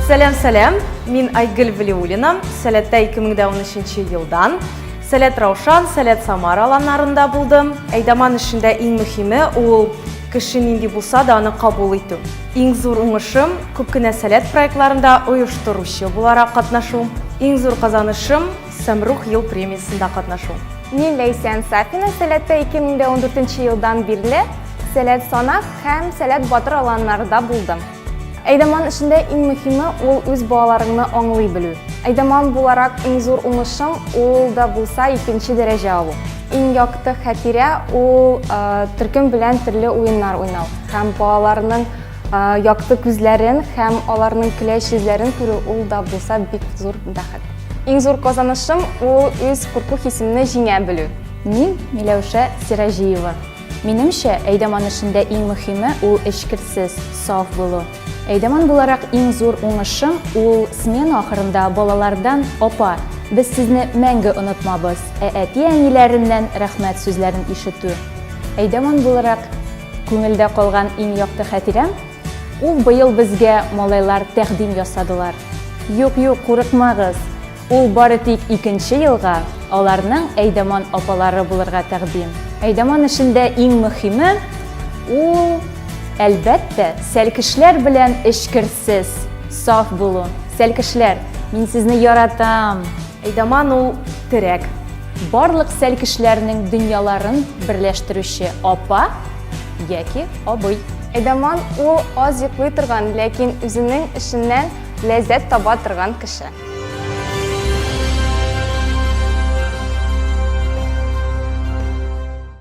Сәләм, сәләм. Мин Айгөл Валиуллина. Сәләттә 2013 елдан Сәләт Раушан, Сәләт Самар аланнарында булдым. Әйдаман эшендә иң мөһиме ул кеше нинди булса да аны кабул итү. Иң зур уңышым күп кенә Сәләт проектларында оештыручы буларак катнашу. Иң зур казанышым Самрух ел премиясендә катнашу. Мин Ләйсән Сафина Сәләттә 2014 елдан бирле Сәләт Санак һәм Сәләт Батыр аланнарда булдым. Әйдаман эшендә иң мөһиме ул үз балаларыңны аңлый белү. Әйдаман буларак иң зур уңышым ул да булса икенче дәрәҗә алу. Иң якты хәтирә ул төркем белән төрле уеннар уйнау һәм балаларның Якты күзләрен һәм аларның көләч йөзләрен күрү ул да булса бик зур бәхет. Иң зур казанышым ул үз курку хисемне җиңә белү. Мин Миләүшә Сираҗиева. Минемчә, әйдәман эшендә иң мөһиме ул эчкерсез, саф булу. Әйдәман буларак иң зур уңышым ул смена ахырында балалардан апа, без сезне мәңге онытмабыз, ә әти-әниләреннән рәхмәт сүзләрен ишетү. Әйдәман буларак Күңелдә калган иң якты хәтирәм, ул быел безгә малайлар тәкъдим ясадылар. Юк, юк, курыкмагыз, ул бары тик икенче елга аларның Әйдаман апалары булырга тәкъдим. Әйдаман эшендә иң мөхиме, ул, әлбәттә, сәлкешләр белән эчкерсез, саф булу. Сәлкешләр, мин сезне яратам! Эйдаман ул терәк. Барлык сәл кешеләрнең дөньяларын берләштерүче апа яки абый. Эйдаман ул аз йоклый торган, ләкин үзенең эшеннән ләззәт таба торган кеше.